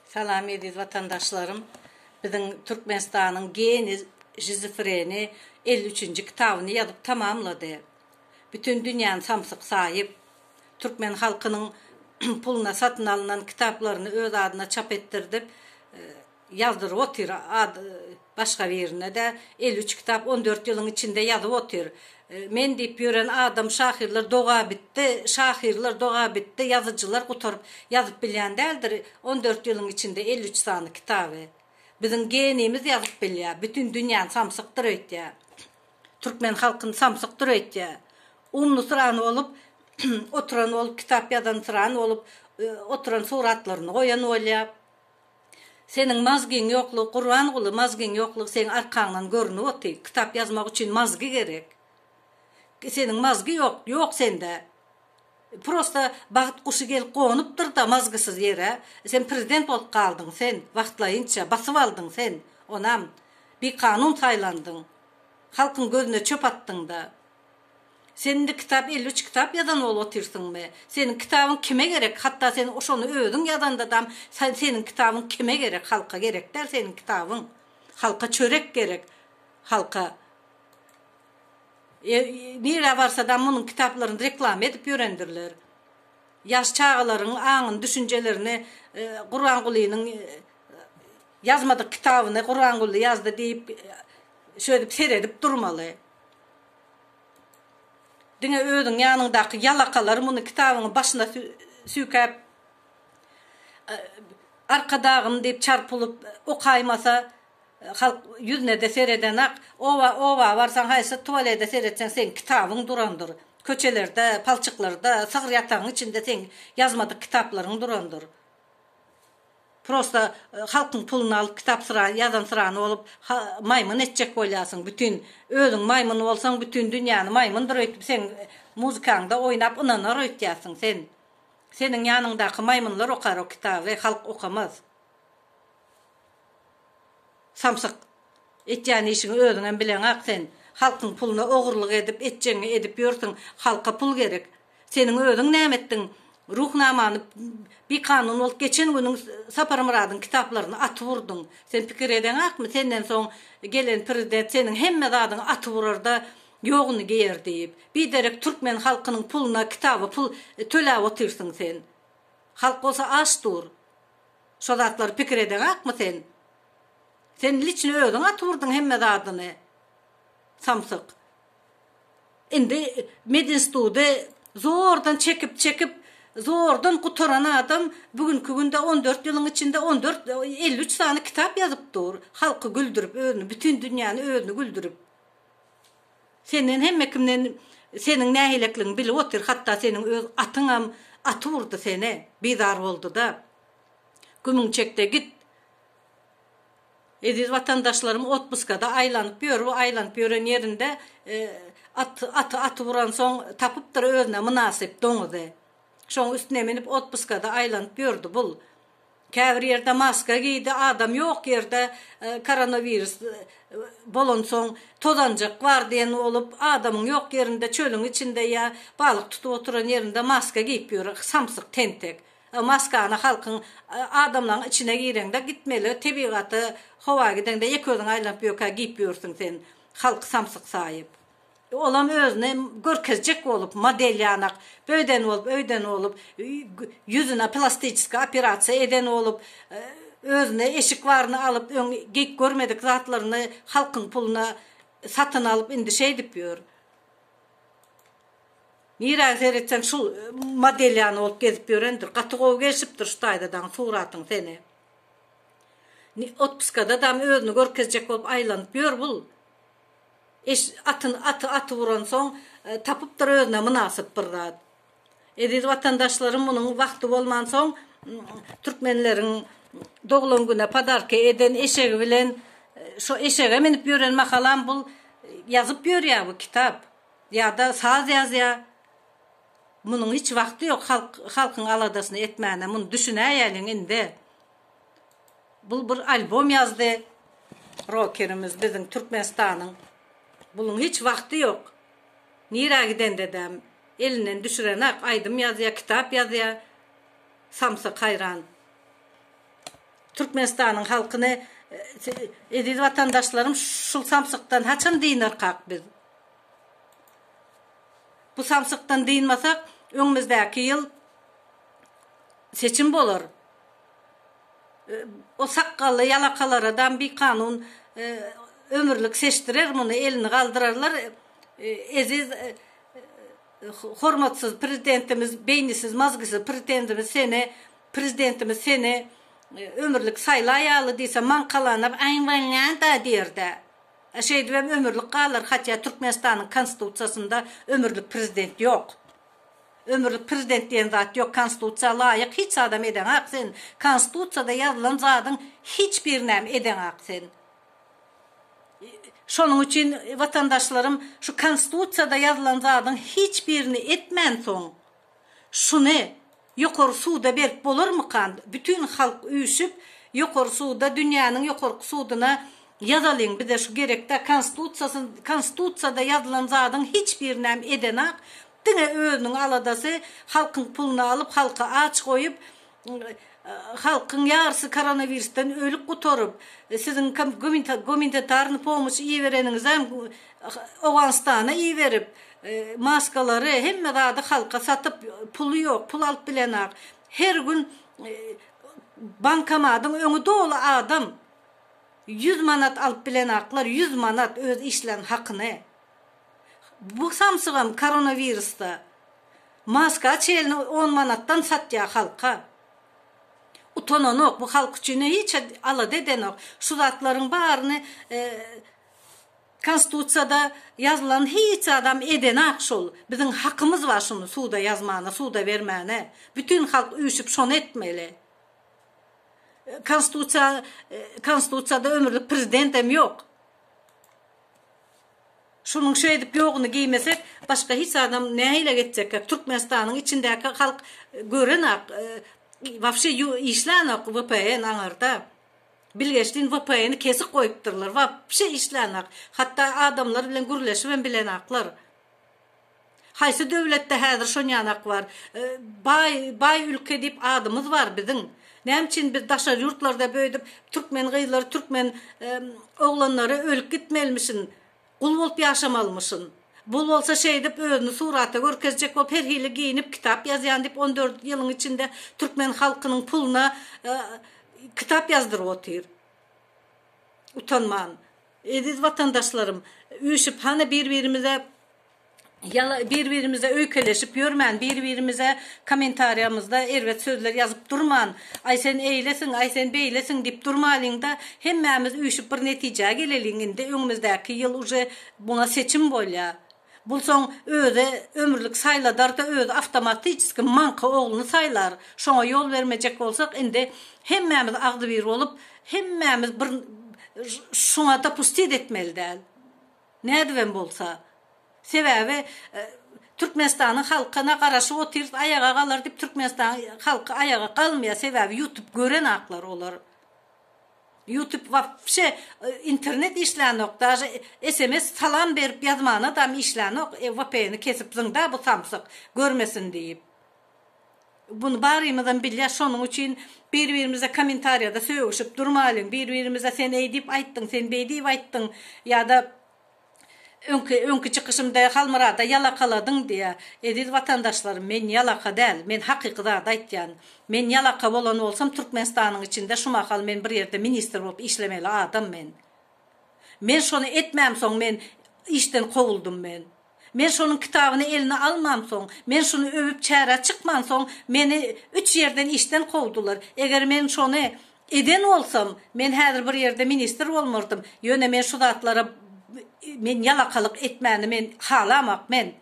Salam eziz watandaşlarym. Biziň Türkmenistanyň geni žizofreni elli üçünji kitabyny ýazyp tamamlady. Bütin dünýäni samsyk saýyp, türkmen halkynyň puluna satyn alnan kitaplaryny öz adyna çap etdirdip, Ýazdyryp otyr, ad başga birine-de elli üç kitap on dört ýylyň içinde ýazyp otyr. Men diýip ýören adam şahyrlar doga bitdi, şahyrlar doga bitdi, ýazyjylar gutaryp ýazyp bilýän däldir on dört ýylyň içinde elli üç sany kitaby. Biziň geniýmiz ýazyp bilýär, bütin dünýäni samsyk döreýtýär, türkmen halkyny samsyk döreýtýär. Umnysyrany bolup oturan ol kitap ýazansyrany bolup oturan suratlaryny goýan bolýar. Seniň mazgiň ýoklugy Gurbanguly mazgiň ýoklugy seň arkaňdan görünip otyr kitap ýazmak üçin mazgy gerek seniň mazgy ýok ýok sende prosta bagt guşy gelip gonupdyrda mazgysyz ýere sen prezident bolup galdyň sen wagtlaýynça basyp aldyň sen onam bikanun saýlandyň halkyň gözüne çöp atdyňda. Sen indi kitap elli üç kitap ýazan bolup otyrsyňmy? Seniň kitabyň kime gerek? Hatda sen şony özüň ýazanda dam seniň kitabyň kime gerek? Halka gerek däl seniň kitabyň. Halka çörek gerek. Halka e, nirä barsa dam munuň kitaplaryny reklama edip ýörendirler. Ýaş çagalaryň aňyny, düşünjelerini e, Gurbangulynyň e, ýazmadyk kitabyny Gurbanguly ýazdy diýip e, şöýdüp seredip durmaly. Diňe özüň ýanyňdaky ýalakalar muny kitabyňy başyna süýkäp Arkadagym diýip çarp bulup okaýmasa halk ýüznede seredenak. Oba oba barsaň haýsy tuwalede seretseň seň kitabyň durandyr. Köçelerde, palçyklarda, sygyr ýatagyň içinde seň ýazmadyk kitaplaryň durandyr. Prosta halkyň puluny alyp kitap syra ýazan syrany bolup ha maýmyn etjek bolýasyň bütin özüň maýmyn bolsaň bütin dünýäni maýmyndyr öýtüp seň muzikaňda oýnap ynanar öýtýäsiň sen seniň ýanyňdaky maýmynlar okar o kitaby halk okamaz samsyk etýän işiňi özüňem bileňak sen halkyň puluna ogurlyk edip etjegiňi edip ýörsüň halka pul gerek Seniň özüň näme etdiň? Ruhnamany bikanun bolup geçen günüň Saparmyradyň kitaplaryny atyp urduň. Sen pikir edeňakmy, senden soň gelen prezident seniň hemme zadyňy atyp urar-da, ýoguny geýer diýip. Biderek türkmen halkynyň puluna, kitaba pul töläp otyrsyň sen. Halk bolsa aç dur. Şo zatlary pikir edeňakmy sen? Sen liçno özüň atyp urduň hemme zadyny. Samsyk. Indi Medinstudy zordan çekip-çekip, zordan gutaran adam bu günki günde on dört ýylyň içinde on dört, elli üç sany kitap ýazyp dur. Halky güldürip, özüni, bütin dünýäni özüni güldürip. Senden hemme kimden seniň nähilekligiňi bilip otyr, hatda seniň öz atyňam aty urdy seni, bizar boldy-da. Gümüň çek-de git. Eziz watandaşlarym otpuskada aýlanyp ýör, bu aýlanyp ýören ýerinde at, aty aty uransoň tapypdyr özüne mynasyp doňuzy. Şoň üstüne minip otpuskada aýlanyp ýördi bul. Käbir ýerde maska geýdi, adam ýok ýerde koronowirus bolansoň tozanjyk bar diýen bolup adamyň ýok ýerinde çölüň içinde ýa balyk tutup oturan ýerinde maska geýip ýör samsyk tentek. Maskany halkyň, adamlaň içine gireňde gitmeli tebigaty howa gideňde ýeke özüň aýlanyp ýökä giýip ýörsüň sen halky samsyk saýyp. Olam özüni görkezjek bolup model ýanak böýden bolup öýden bolup ýüzüne plastiçeski operasiýa eden bolup özüne eşik baryny alyp öň geýip görmedik zatlaryny halkyň puluna satyn alyp indi şeýdip ýör. Nirä seretseň şul model ýany bolup gezip ýörendir. Gaty gowy gelşipdir şu taýda daň suratyň seni. Otpuskada dam özüni görkezjek bolup aýlanyp ýör bul. Eş atyny aty aty uran soň tapypdyr özüne mynasyp bir zat. Eziz watandaşlarym munuň wagty bolman soň türkmenleriň doglan güne podarka eden eşegi bilen şo eşege minip ýören mahalam bul ýazyp ýörýä bu kitap. Ýada saz ýazýa munuň hiç wagty ýok halk halkyň aladasyny etmäne muny düşünäýeliň indi bul bir albom ýazdy rokerimiz biziň türkmenistanyň buluň hiç wagty ýok nirä gidendedem elinden düşürenak aýdym ýazýa kitap ýazýa samsyk haýran türkmenistanyň halkyny eziz watandaşlarym şul samsykdan haçan dynarkak biz. Bu samsykdan dynmasak, öňümizdäki ýyl seçim bolar. O sakgally ýalakalara dam bikanun ömürlik seçdirer muny, elini galdyrarlar. Eziz hormatsyz prezidentimiz, beýnisiz, mazgysyz prezidentimiz seni, prezidentimiz seni ömürlik saýlaýaly diýse, maňkalanyp, aý, bolýa-da diýer-dä. Şeýdibem ömürlik galar, hatya Türkmenistanyň konstitusiýasynda ömürlik prezident ýok. Ömürlik prezident diýen zat ýok, konstitusiýa laýyk hiç zadam edeňak sen, konstitusiýada ýazylan zadyň hiç birinäm edeňak sen. Şonuň üçin watandaşlarym şu konstitusiýada ýazylan zadyň hiç birini etmänsoň, Şuny ýokary suda berip bolarmykan bütün halk üýşüp ýokary suda dünýäniň ýokarky suduna ýazalyň bize şu gerekda konstitutsiýasy konstitutsiýada ýazylan zadyň hiç birinem edenak diňe özüniň aladasy halkyň puluny alyp halky aç goýup Halkyň ýarsy koronawirusdan ölüp gutaryp, siziň gumanitarny pomoç iberenizem Owganystana iberip, maskalary, hemme zady halka satyp, puly ýok, pul alyp bilenok. Her gün bankomadyň öňi doly adam. Ýüz manat alyp bilenoklar, ýüz manat öz işlän hakyny. Bu samsygam koronowirusda maska çelini on manatdan satýa halka. Utananok bu halk üçin hiç alada edenok. Şu zatlaryň baryny konstitusiýada ýazylan hiç zadam edenak şol. Biziň hakymyz bar şuny suda ýazmana suda bermäne. Bütün halk üýşüp şony etmeli. Konstitusiýa konstitusiýada ömürlik prezidentem ýok. Şunuň şeýdip ýoguny geýmesek başga hiç zadam nähile geçjekka Türkmenistanyň içindäki halk görenok wapşe işlänok vpn aňarda bilgeşlin vpn-i kesik goýupdyrlar wapşe işlänok hatda adamlar bilen gürleşibem bilenoklar. Haýsy döwletde häzir şonýanak bar? Baý, baý ülke diýip adymyz bar biziň. Näme üçin biz daşary ýurtlarda böýdüp türkmen gyzlary, türkmen oglanlary ölüp gitmelimişin, gul bolup ýaşamalymyşyn? Bu bolsa şeýdip özüni surata görkezjek bolup her hili geýinip kitap ýazýan diýip on dört ýylyň içinde türkmen halkynyň puluna kitap ýazdyryp otyr. Utanman. Eziz watandaşlarym, üýşüp hany bir-birimize bir-birimize öýkeleşip ýörmän, bir-birimize kommentariýamyzda erbet sözler ýazyp durman, aý sen eýlesiň, aý sen beýlesiň diýip durmalyň-da, hemmämiz üýşüp bir netijä geleliň, indi öňümizdäki ýyl uje muňa seçim bolýar. Bulsoň özi ömürlik saýladarda özi awtomatiçeski maňka ogluny saýlar. Şoňa ýol bermejek bolsak indi hemmämiz agzybir bolup hemmämiz bir şuňa dopustit etmeli däl. Nädibem bolsa. Sebäbi Türkmenistanyň halky na garaşyp otyrys aýaga galar dip Türkmenistanyň halky aýaga galmaýar sebäbi ýutup gören aklar olar. Ýutub wapşe internet işlänok daže sms salam berip ýazmanadam işlänok vpn kesip zyňda bu samsyk görmesin diýip buny barymyzam bilýäs şonuň üçin bir birimize komentarýada sögüşip durmalyň bir birimize sen eýdip aýtdyň sen beýdip aýtdyň ýada Öňki, öňki çykyşymda Halmyrada ýalakaladyň diýýär. Eziz watandaşlarym, men ýalaka däl. Men hakyky zady aýtýan. Men ýalaka bolan bolsam, Türkmenistanyň içinde şu mahal men bir ýerde ministr bolup işlemeli adam men. Men şony etmämsoň men işden kowuldym men. Men şonuň kitabyny eline almamsoň, men şuny öwüp çärä çykmansoň meni üç ýerden işden kowdular. Eger men şony Eden bolsam, men häzir bir ýerde ministr bolmardym, ýöne men şu zatlara men ýalakalyk etmäni men halamak men.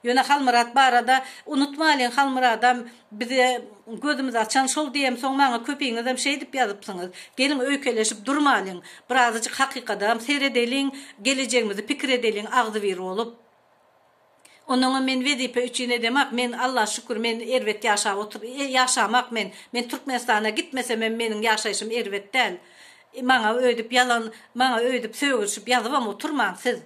Ýöne Halmyrat barada unutmalyň Halmyradam bize gözümizi açan şol diýem soň maňa köpiňizem şeýdip ýazypsyňyz. Geliň öýkeleşip durmalyň, birazajyk hakykadam seredeliň, gelejegimizi pikir edeliň agzybir bolup. Ondanam men wezipe üçin edemak men Alla şükür men erbet ýaşap otur ýaşamak men men Türkmenistana gitmesemem meniň ýaşaýşym erbet däl maňa öýdüp ýalan maňa öýdüp sögülşip ýazybam oturmaň siz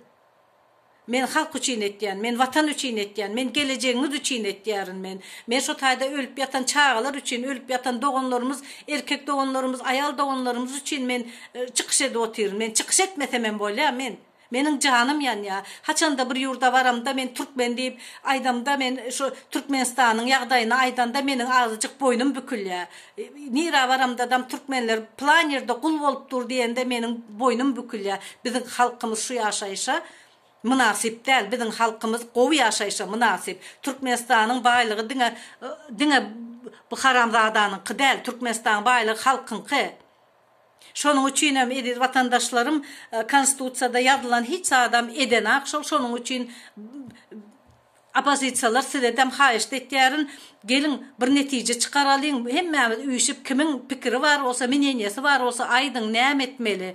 men halk üçin etýän men watan üçin etýän men gelejegiňiz üçin etýärin men men şo taýda ölüp ýatan çagalar üçin ölüp ýatan doganlarymyz erkek doganlarymyz aýal doganlarymyz üçin men çykyş edip otyryn men çykyş etmesemem bolýa men. Meniň janym ýanýa. Haçanda bir ýurda baramda men türkmen diýip aýdamda men şu Türkmenistanyň ýagdaýyny aýdanda meniň azyjyk boýnum bükülýä. Nira baramdadam türkmenler plan ýerde gul bolup dur diýende meniň boýnum bükülýä. Biziň halkymyz şu ýaşaýşa mynasyp däl. Biziň halkymyz gowy ýaşaýşa mynasyp. Türkmenistanyň baýlygy diňe diňe bu haramzadanyňky däl. Türkmenistanyň baýlygy halkyňky. Şonuň üçin hem eziz watandaşlarym konstitusiýada ýazylan hiç zadam edenak şol şonuň üçin opozisiýalar sizedem haýyşt etýärin geliň bir netije çykaralyň hemmämiz üýşip kimiň pikiri bar bolsa mineniýesi bar bolsa aýdyň näme etmeli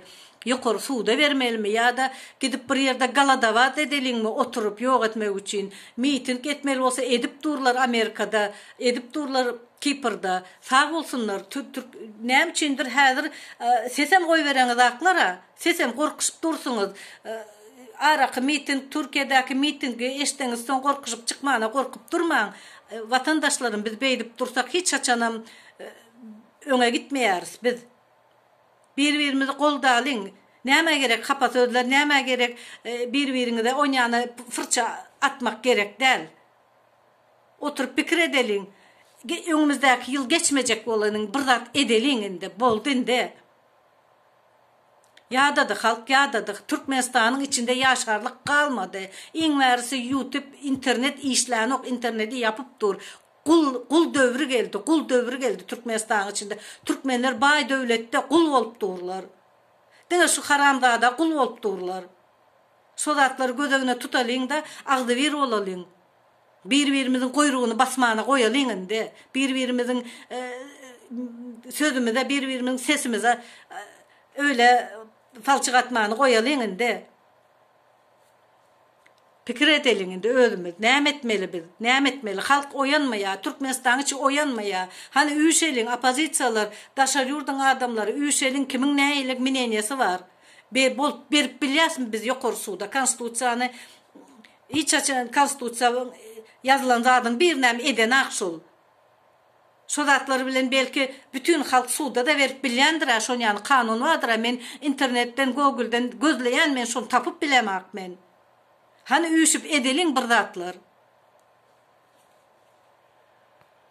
ýokary suda bermelimi ýada gidip bir ýerde galadabat edeliňmi oturyp ýok etmek üçin miting etmeli bolsa edip durlar amerikada edip durlar Kiprda sag bolsunlar türk näme üçindir häzir sesem goýbereňiz aklara sesem gorkusyp dursuňyz araky miting türkiýedäki mitingi eşdeňiz soň gorkusyp çykmana gorkup durmaň watandaşlarym biz beýdip dursak hiç haçanam öňe gitmeýäris biz bir birimizi goldalyň nämä gerek hapa sözler nämä gerek bir biriňize onýana fyrça atmak gerek däl. Oturyp pikir edeliň. Öňümizdäki ýyl geçmejek bolanyň bir zat edeliň indi. Boldy indi. Ýadady halk ýadady. Türkmenistanyň içinde ýaşarlyk galmady. Iň bärisi ýutip internet işlänok interneti ýapyp dur. Gul gul döwri geldi gul döwri geldi Türkmenistanyň içinde. Türkmenler baý döwletde gul bolup durlar. Diňe şu haramzada gul bolup durlar. Şo zatlary göz öňüne tutalyňda agzybir bolalyň. Bir-birimiziň guýrugyny basmana goýalyň indi. Bir-birimiziň sözümize, bir-birimiziň sesimize öýle palçyk atmany goýalyň indi. Pikir edeliň indi özümiz. Näme etmeli biz? Näme etmeli? Halk oýanmaýar, Türkmenistanyň içi oýanmaýar. Hany üýşeliň, oppozisiýalar, daşary ýurduň adamlary, üýşeliň, kimiň nähili mneniýesi bar? Be, bolup berip bilýäsmi biz ýokary suda Konstitusiýany Hiç haçan konstitusiýa ýazylan zadyň birinem edenok şol. Şo zatlar bilen belki bütin halk suda-da berip bilýändir-ä şon ýaly kanun bardyr-ä men internetden gogulden gözleýän men şony tapyp bilemok men. Hany üýşüp edeliň bir zatlar.